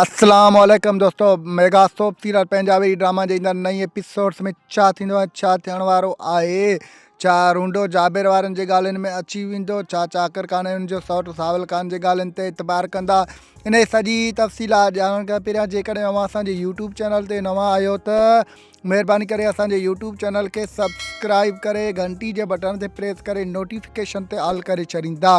اسلام عليڪم دوستو mega soap serial Punjabi drama جي ايندڙ نئين ايپيسوڊز ۾ ڇا ٿيندو ۽ ڇا ٿيڻ وارو آهي ڇا رونڊو جابر وارن جي ڳالهين ۾ اچي ويندو ڇا چاڪر خان ۽ ان جو سوٽ ساول خان جي ڳالهين تي اعتبار ڪندا انهي سڄي تفصيلات ڄاڻڻ کان پهريان جيڪڏهن اوهان اسان جي يوٽيوب چينل تي نوان آهيو ته مهرباني ڪري اسان جي يوٽيوب چينل کي سبسڪرائيب ڪري گهنٽي جي بٽڻ تي پريس ڪري نوٽيفڪيشن تي آل ڪري ڇڏيندا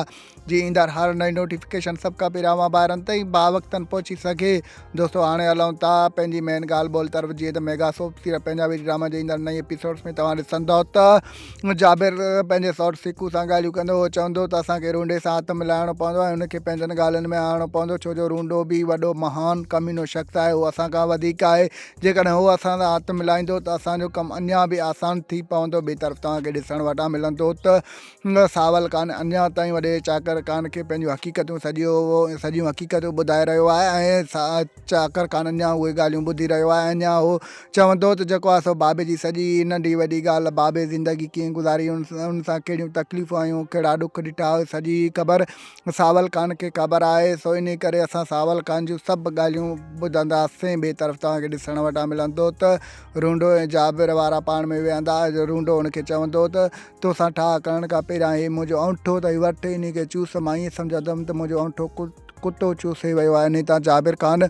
جي ايندڙ هر نئين نوٽيفڪيشن سڀ کان پهريان اوهان ٻاهرن تائين با وقتن پهچي سگهي دوستو هاڻي هلون ٿا پنهنجي مين ڳالهه ٻولهه طرف جيئن ته ميگا سوپ سيرا پنهنجا ويري ڊراما جي ايندڙ نئين ايپيسوڊس ۾ توهان ڏسندو ته جابر پنهنجي سوٽ سکو سان ڳالهيون ڪندو هو چوندو ته اسانکي رونڊي سان هٿ ملائڻو پوندو ۽ ان کي پنهنجن ڳالهين ۾ آڻڻو پوندو ڇو جو رونڊو به وڏو مهان ڪمينو شخص آهي هو اسان کان وڌيڪ آهي جيڪڏهن هو اسان سان هٿ ملائيندو ته اسان جو ڪم اڃا به آسان ٿي پوندو. ٻئي طرف توهان کي ڏسڻ وٽان ملندو ته ساول خان اڃا تائين وڏي چاڪر خان کي پنهنجون حقيقتون سڄيون حقيقتون ٻڌائي رهيو آهي ۽ چاڪر خان اڃا اهي ڳالهيون ٻڌي رهيو آهي ۽ اڃا هو چوندو ته جيڪو آهي سو بابي جي سڄي ننڍي وڏي ڳالهه بابي زندگي ڪيئن گذاري ان سان ڪهڙيون تڪليفون ۽ هن ڪهڙا ڏک ڏٺا اهي سڄي خبر ساول خان کي خبر آهي، سو انهيء ڪري اسان ساول خان جون سڀ ڳالهيون ٻڌنداسين. ٻئي طرف توهان کي ڏسڻ وٽان ملندو ته رونڊو ۽ جابر وارا پاڻ ۾ ويهندا. رونڊو هن کي چوندو ته، تو سان ٺاهه ڪرڻ کان پهريان هي منهنجو انوٺو اٿئي، وٺ انهي کي چوس. مان ائين سمجهندم ته منهنجو انوٺو ڪتو چوسي ويو آهي. انهيء تان جابر خان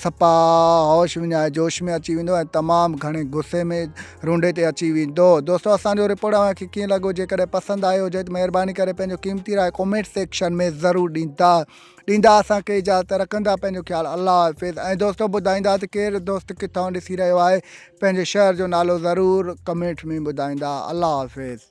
سپاء هوش وڃائي جوش ۾ اچي ويندو ۽ تمام گهڻي غصي ۾ رونڊي تي اچي ويندو دوستو اسان جو رپورٽ اوهان کي ڪيئن لڳو جيڪڏهن پسند آيو هجي ته مهرباني ڪري پنهنجو قيمتي راء ڪومينٽ سيڪشن ۾ ضرور ڏيندا ڏيندا اسان کي اجازت رکندا پنهنجو خيال الله حافظ ۽ دوستو ٻڌائيندا ته ڪير دوست ڪٿان ڏسي رهيو آهي پنهنجي شهر جو نالو ضرور ڪمينٽ ۾ ٻڌائيندا الله حافظ